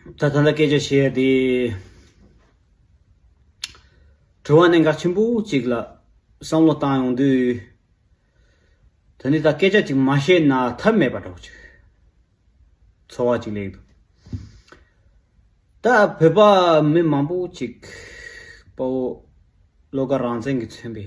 ད་ཐང་ལ་སྐད་ཆ་བཤད་ཡ་དེ། དྲི་བ་གནད་འགག་ཆེན་པོ་གཅིག་ལ་བསམ་བློ་བཏང་ཡོང་དུས། ད་ནི་ད་སྐད་ཆ་གཅིག་མ་བཤད་ན་ཐབས་མེད་པ་འདྲ་བོ་ཅིག་ཚོར་བ་ཅིག་ལེགས་འདུག། ད་བོད་པ་མི་མང་པོ་ཅིག་དཔའ་བོ་བློ་དགའ་རང་བཙན་གྱི་མཚོན་པའི་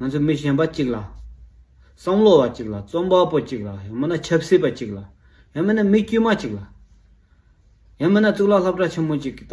ང་ཚོ་མི་གཞན་པ་གཅིག་ལ། བསམ་བློ་བ་གཅིག་ལ་རྩོམ་པ་པོ་གཅིག་ལ་ཡང་མིན་ན་ཆབ་སྲིད་པ་གཅིག་ལ་ཡང་མིན་ན་མི་དཀྱུས་མ་གཅིག་ལ། ཡང་མིན་ན་གཙུག་ལག་ལྷ་བྲག་ཆེན་མོ་གཅིག་གི་ད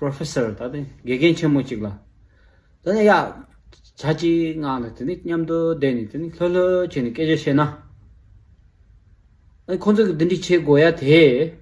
Professor ད་དེ་དགེ་རྒན་ཆེན་མོ་གཅིག་ལ། ད་ནི་ཡ། བྱ་གཅིག་ངང་ལ་དེ་ནི་མཉམ་དུ་བསྡད་ནས་དེ་ནི་ལྷོད་ལྷོད་བྱས་ནས་སྐད་ཆ་བཤད་ན། ཁོང་ཚོ་གི་འདི་འདྲི་བྱེད་དགོས་ཡ་དེས།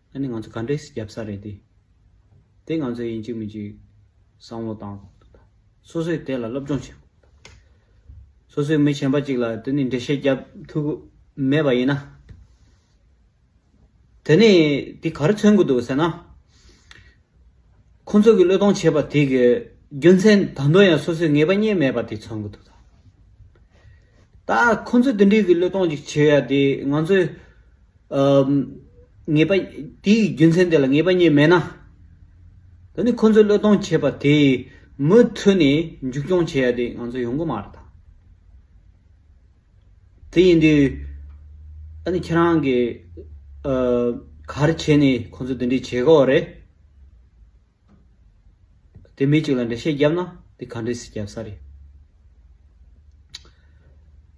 ཨ་ནི་ང་ཚོ་ག་འདྲས་རྒྱབ་ས་རེད་དེ། དེ་ང་ཚོའི་ཡིན་གཅིག་མིན་གཅིག་བསམ་བློ་བཏང། སོ་སོས་དེ་ལ་སློབ་སྦྱོང་བྱེད། སོ་སོའི་མི་གཞན་པ་གཅིག་ལ་དེ་ནས་འགྲེལ་བཤད་རྒྱབ་ཐུབ་ཀི་མེད་པ་ཡིན་ན། དེ་ནས་དེ་ག་རེ་མཚོན་གི་འདུག་ཟེར་ན། ཁོ་ཚོ་གི་བློས་གཏོང་བྱས་པ་དེ་གི་རྒྱུ་མཚན་ད་དུང་ཡང་སོ་སོས་ངེས་པ་རྙེད་མེད་པ་དེ་མཚོན་གི་འདུག་ད། ད་ཁོ་ཚོས་དེ་འདྲའི་གི་བློས་གཏོང་ཅིག་བྱེད་ཡ་དེ་ང་ཚོས། ངེས་པ། དེའི་གི་རྒྱུ་མཚན་དེ་ལ་ངེས་པ་རྙེད་མེད་ན། ད་ནི་ཁོ་ཚོས་བློས་གཏོང་བྱས་པ་དེ་མུ་མཐུད་ནས་མཇུག་སྐྱོང་བྱེད་ཡ་དེ་ང་ཚོས་ཡོང་གི་མ་རེད་ད། དེ་ཡིན་དུས། ད་ནི་ཁྱེད་རང་གིས། གར་བྱས་ནས་ཁོ་ཚོ་འདི་འདྲའི་བྱེད་དགོས་བ་རེད། དེ་མི་གཅིག་ལ་འགྲེལ་བཤད་བརྒྱབ་ན་དེ་ག་འདྲས་སུ་བརྒྱབ་ས་རེད།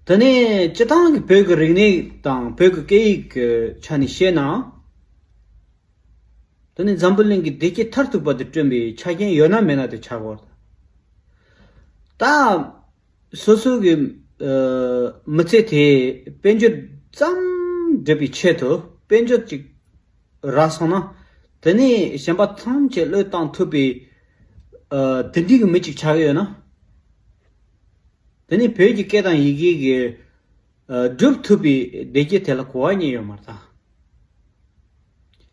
དེ་ནས་སྤྱི་བཏང་གི་བོད་ཀྱི་རིག་གནས་དང་བོད་ཀྱི་སྐད་ཡིག་གི་ཆ་ནས་བཤད་ན། དེ་ནི་འཛམ་བུ་གླིང་གི་བདེ་སྐྱིད་མཐར་ཐུག་པ་དེ་བསྐྲུན་པའི་ཆ་རྐྱེན་ཡོད་ན་མེད་ན་དེ་ཆགས་དགོས་རེད། ད། སོ་སོ་གི་མི་ཚེ་དེ་དཔལ་འབྱོར་ཙམ་སྒྲུབ་པའི་ཆེད་དུ་དཔལ་འབྱོར་ཅིག་རག་སོང་ན། དེ་ནས་གཞན་པ་ཐམས་ཅད་བློས་བཏང་ཐུབ་པའི་དེ་འདྲིའི་མི་ཅིག་ཆགས་ཀྱི་ཡོད་ན། དེ་ནས་བོད་ཀྱི་སྐད་དང་ཡི་གེ་གི་སྒྲུབ་ཐུབ་པའི་བདེ་སྐྱིད་དེ་ལ་གོ་བ་ཉིད་ཡོད་མ་རེད་ད།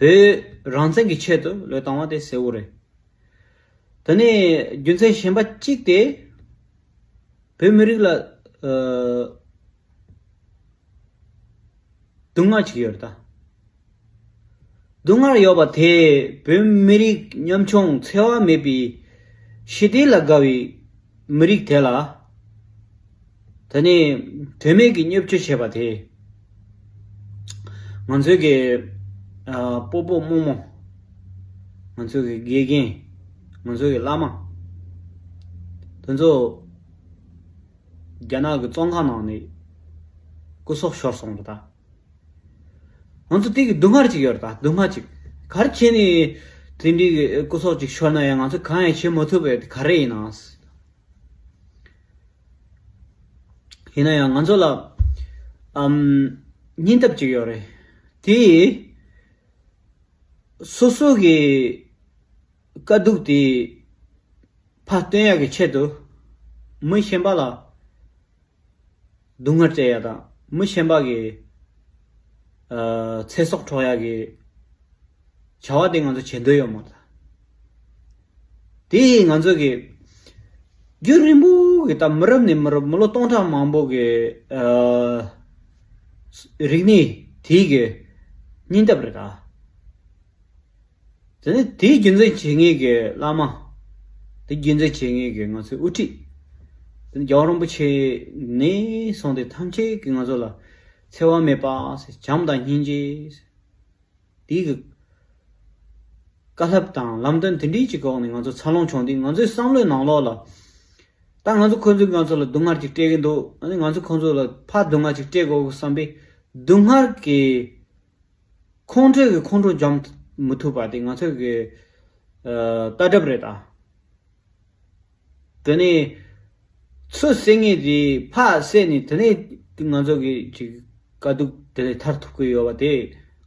བོད་རང་བཙན་གྱི་ཆེད་དུ་ལོས་བཏང་བ་དེ་གསལ་བོ་རེད། དེ་ནས་རྒྱུ་མཚན་གཞན་པ་གཅིག་དེ། བོད་མི་རིགས་ལ། སྡུག་བསྔལ་གཅིག་ཡོད་རེད་ད། སྡུག་བསྔལ་ཡོད་པ་དེས་བོད་མི་རིགས་ཉམ་ཆུང་འཚེ་བ་མེད་པའི་ཞི་བདེ་ལ་དགའ་བའི། མི་རིགས་དེ་ལ། ད་ནི་དོན་མེད་ཀྱི་སྙོབ་བྱེད་བྱས་པ་དེས། ང་ཚོའི་གི་སྤོ་སྤོ་རྨོ་རྨོ། ང་ཚོའི་གི་དགེ་རྒན། ང་ཚོའི་གི་བླ་མ། དེ་ཚོ། རྒྱ་ནག་གི་བཙོང་ཁང་ནང་ནས་སྐུ་སྲོག་ཤོར་སོང་རེད་ད། ང་ཚོ་སྟེང་གི་སྡུག་བསྔལ་གཅིག་ཡོད་དང་སྡུག་བསྔལ་གཅིག་གར་ཁྱེད་ནས་དེ་འདྲའི་སྐུ་སྲོག་ཅིག་ཤོར་ན་ཡང་ང་ཚོས་གང་ཡང་བྱེད་མ་ཐུབ་པའི་ག་རེ་ཡིན་ནའང། ཡིན་ན་ཡང་ང་ཚོ་ལ་སྙིང་སྟབས་གཅིག་ཡོད་རེད། དེ་ཡིས་སོ་སོ་གི་དཀའ་སྡུག་དེ་ཕ་སྟོན་ཡག་གི་ཆེད་དུ་མི་གཞན་པ་ལ། སྡུག་བསྔལ་བཙལ་ཡག་དང་མི་ཤེས་འབག་གི། ཚེ་སྲོག་འཕྲོག་ཡག་གི། བྱ་བ་དེ་ང་ཚོ་བྱེད་འདོད་ཡོད་མ་རེད། དེ་ཡིས་ང་ཚོ་གི། རྒྱུན་རིང་པོ་གི་ད་མི་རབས་ནས་མི་རབས་མི་ལོ་སྟོང་ཕྲག་མང་པོ་གི། རིག་གནས་དེའི་གི་སྙིང་སྟབས་རེད་ད། དེ་ནི་དེའི་རྒྱུ་མཚན་བྱེད་ངེས་ཀྱི་བླ་མ། དེའི་རྒྱུ་མཚན་བྱེད་ངེས་ཀྱི་ང་ཚོའི་དབུ་ཁྲིད། དེ་ནི་རྒྱལ་བ་རིན་པོ་ཆེ་ནས་བཟུང་སྟེ་ཐམས་ཅད་ཀྱིས་ང་ཚོ་ལ་འཚེ་བ་མེད་པ། བྱམས་དང་སྙིང་རྗེ། དེའི་བཀའ་ལྷབ་དང་ལམ་སྟོན་དེ་འདྲིའི་ཀྱི་འོག་ནས་ང་ཚོ་འཚར་ལོངས་བྱུང་དུས་ང་ཚོའི་བསམ་བློའི་ནང་ལོགས་ལ། ད་ང་ཚོ་ཁོ་ཚོས་ང་ཚོ་ལ་སྡུག་བསྔལ་གྱིས་སྤྲད་ཀྱི་འདུག་ང་ཚོས་ཁོ་ཚོ་ལ་ཕར་སྡུག་བསྔལ་གྱིས་སྤྲད་དགོས་སམ་པའི་སྡུག་བསྔལ་གྱི་ཁོང་ཁྲོ་བའི་ཁོང་ཁྲོ་འཇོམས་མི་ཐུབ་པ་དེ་ང་ཚོས་གི་ལྟ་གྲུབ་རེད་ད། དེ་ནས་ཚུར་བསད་ངེས་དེ་ཕག་བསད་ནས་དེ་ནས་ང་ཚོ་གི་གཅིག་དཀའ་སྡུག་དེ་ལས་ཐར་ཐུབ་གི་ཡོད་པ་དེ་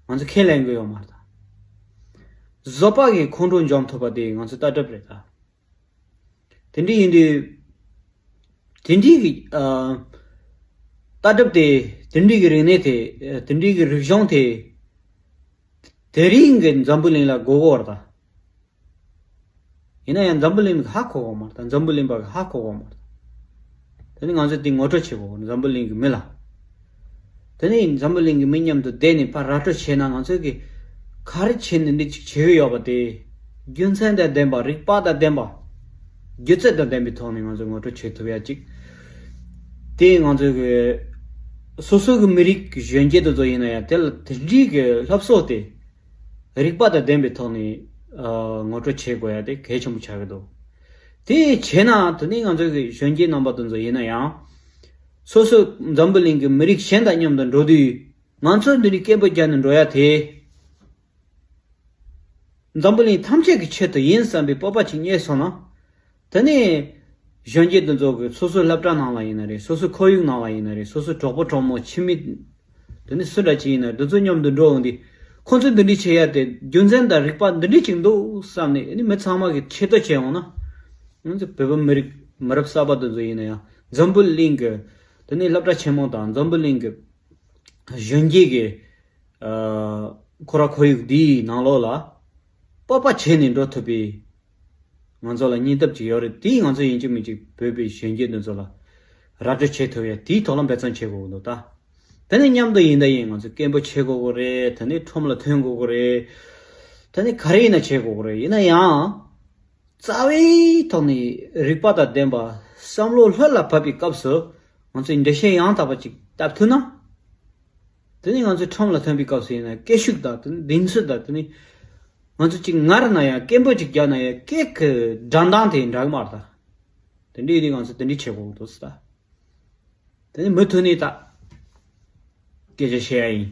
ང་ཚོས་ཁས་ལེན་གི་ཡོད་མ་རེད་ད། བཟོ་པ་གི་ཁོང་ཁྲོ་འཇོམས་ཐུབ་པ་དེ་ང་ཚོའི་ལྟ་གྲུབ་རེད་ད། དེ་འདྲའི་ཡིན་དུས། དེ་འདྲའི་ལྟ་གྲུབ་དེ། དེ་འདྲའི་རིག་གནས་དེ། དེ་འདྲའི་རིག་གཞུང་དེ། དེ་རིང་གི་འཛམ་བུ་གླིང་ལ་མགོ་བོ་བར་དང། ཡིན་ན་ཡང་འཛམ་བུ་གླིང་ཧ་གོ་བ་མ་རེད་འཛམ་བུ་གླིང་པ་ཧ་གོ་བ་མ་རེད། དེ་ནི་ང་ཚོས་དེ་ངོ་སྤྲོད་བྱེད་དགོས་འཛམ་བུ་གླིང་གི་མི་ལ། དེ་ནས་འཛམ་བུ་གླིང་གི་མི་མཉམ་དུ་བསྡད་ནས་ཕར་ར་སྤྲོད་བྱས་ན་ང་ཚོས་གི་ག་རེ་བྱས་ནས་འདི་གཅིག་བྱེད་ཀྱི་ཡོད་པ་དེ། རྒྱུ་མཚན་དང་ལྡན་པ་རིག་པ་དང་ལྡན་པ། སྒྱུ་རྩལ་དང་ལྡན་པའི་ཐོག་ནས་ང་ཚོས་ངོ་སྤྲོད་བྱེད་ཐུབ་ཡ་གཅིག། དེ་ང་ཚོས་གི་སོ་སོ་གི་མི་རིགས་གཞོན་སྐྱེས་དེ་ཚོ་ཡིན་ན་ཡང་དེ་ལ་དེ་འདྲིའི་གི་ལྷབ་གསོག་དེ། རིག་པ་དང་ལྡན་པའི་ཐོག་ནས་ངོ་སྤྲོད་བྱེད་དགོས་ཡ་དེ་གལ་ཆེན་པོ་ཆགས་ཀྱི་འདུག་དེ་བྱས་ན་དེ་ནས་ང་ཚོས་གི་གཞོན་སྐྱེས་རྣམ་པ་དེ་ཚོ་ཡིན་ན་ཡང། སོ་སོ་འཛམ་བུ་གླིང་གི་མི་རིགས་གཞན་དང་མཉམ་དུ་འགྲོ་དུས། ང་ཚོ་འདི་ནས་སྐད་འབོད་རྒྱག་ནས་འགྲོ་ཡ་དེ། འཛམ་བུ་གླིང་ཐམས་ཅད་ཀྱི་ཆེད་དུ་ཡིན་བསམ་པའི་སྤོབས་པ་ཅིག་རྙེད་སོང་ན། དེ་ནས་གཞོན་སྐྱེས་འདི་ཚོ་གི་སོ་སོའི་བསླབ་གྲྭ་ནང་ལ་ཡིན་ན་རེད་སོ་སོའི་ཁོར་ཡུག་ནང་ལ་ཡིན་ན་རེད་སོ་སོའི་གྲོགས་པོ་གྲོགས་མོ་ཁྱིམ་མི་འདི་ནི་སུ་འདྲ་ཅིག་ཡིན་ན་འདི་ཚོ་མཉམ་དུ་འགྲོ་འོང་དུས་ཁོ་ཚོས་འདི་འདྲི་བྱེད་ཡ་དེ་རྒྱུ་མཚན་དང་རིག་པ་འདི་འདྲི་གཅིག་འདུག་བསམ་ནས་ནི་མི་ཚང་མ་གི་ཆེད་དུ་བྱེད་འོང་ན། ང་ཚོ་བོད་པ་མི་རིགས་མི་རབས་གསར་པ་དེ་ཚོ་ཡིན་ན་ཡང་འཛམ་བུ་གླིང་གི་དེ་ནི་བསླབ་གྲྭ་ཆེན་མོ་དང་འཛམ་བུ་གླིང་གི་གཞོན་སྐྱེས་ཀྱི་ཁོ་ར་ཁོར་ཡུག་འདིའི་ནང་ལོགས་ལ་དཔའ་དཔའ་བྱས་ནས་འགྲོ་ཐུབ་པའི། ང་ཚོ་ལ་སྙིང་སྟོབས་ཅིག་ཡོད་རེད་དེ་ཡིས་ང་ཚོ་ཡིན་གཅིག་མིན་གཅིག་བོད་པའི་གཞོན་སྐྱེས་དེ་ཚོ་ལ་ར་སྤྲོད་བྱེད་ཐུབ་ཡ་དེའི་ཐོག་ལ་འབད་བརྩོན་བྱེད་དགོས་གི་འདུག་ད་དེ་ནས་མཉམ་དུ་ཡིན་ད་ཡིན་ང་ཚོ་སྐད་འབོད་བྱེད་དགོས་གི་རེད་དེ་ནས་ཁྲོམ་ལ་ཐོན་དགོས་གི་རེད་དེ་ནས་ག་རེ་ཡིན་ན་བྱེད་དགོས་གི་རེད་ཡིན་ན་ཡང་རྩ་བའི་ཐོག་ནས་རིག་པ་དང་ལྡན་པ་བསམ་བློ་ལྷོད་ལ་བབས་པའི་སྐབས་སུ་ང་ཚོས་འགྲེལ་བཤད་ཡང་དག་པ་ཅིག་བཏབ་ཐུབ་ན། དེ་ནི་ང་ཚོའི་ཁྲོམ་ལ་ཐོན་པའི་སྐབས་སུ་ཡིན་ན་སྐད་ཤུགས་དང་དེ་ནི་གདེང་ཚོད་དང་དེ་ནི། ང་ཚོ་གཅིག་ངར་ན་ཡང་སྐད་འབོད་ཅིག་རྒྱག་ན་ཡང་སྐད་ཀྱི་སྒྲ་མདངས་དེ་འདྲ་གི་མ་རེད་ད། དེ་འདྲའི་རིགས་ང་ཚོ་དེ་འདྲའི་བྱེད་དགོས་ཀྱི་འདུག་སྲིད་ད། དེ་ནི་མུ་མཐུད་ནས་ད། སྐད་ཆ་བཤད་ཡ་ཡིན།